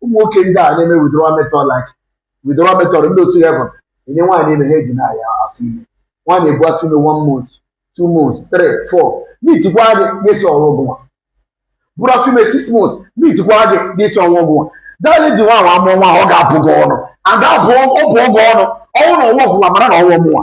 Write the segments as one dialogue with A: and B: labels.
A: ụmụ nwoke ndị a na-eme withdrawal method like withdrawal method ndị otu even enye nwaanyị ime ha a-deny afọ ime nwaanyị ebu afọ ime one month two months three four meetikwa gị ga-asị ọ wụ gịnwa bụrụ afọ ime six months meetikwa gị ga-asị ọ wụ gịnwa dali ji nwaanyị amụọ nwa ọ ga-abụ gị ọnụ ada abụọ ọ bụ gị ọnụ ọnwụ na ọ nwa gịnwa mara na ọ nwa mụnwa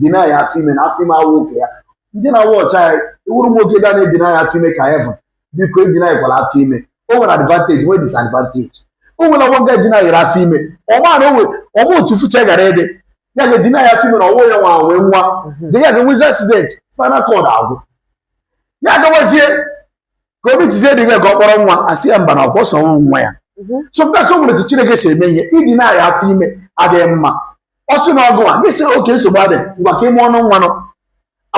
A: deny afọ ime na afọ ime awụ nke ya ndị na-awụ ọcha ya ị wụrụ nwoke ga na-a-deny afọ ime ka even biko a-denykwala afọ ime o nwere advantage nwee disadvantage o nwere ọgbọ nga a-denyrị afọ ime ọma na onwe ọ ma otu future ga-adị ya ga a-deny afọ ime na ọ wụ ya nwa nwe nwa the guy nwezie accident spinal cord agwụ ya gawazie ka o meetizie the girl ka ọ kpọrọ nwa a sị ya mba na ọ kwa ọ sị ọ wụghị nwa ya Mhm. so mkpa ka o nwere ka chineke si eme ihe ị deny afọ ime adịghị mma ọ sị na ọ wụ gị sị ok nsogbu adịghị ngwa ka a mụọnụ nwa ahụ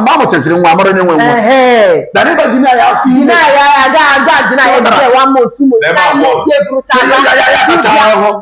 A: mgbe a mụchaziri nwa a mara onye nwe nwa Ehe. than ị bịa deny afọ ime Deny ya, ya, ga- ga- deny ya, Ọ dara. deny one month, two months, Ebe nine abụọ. months, ya eburucha Ihe ya. ya ya ya tachaa ahụhụ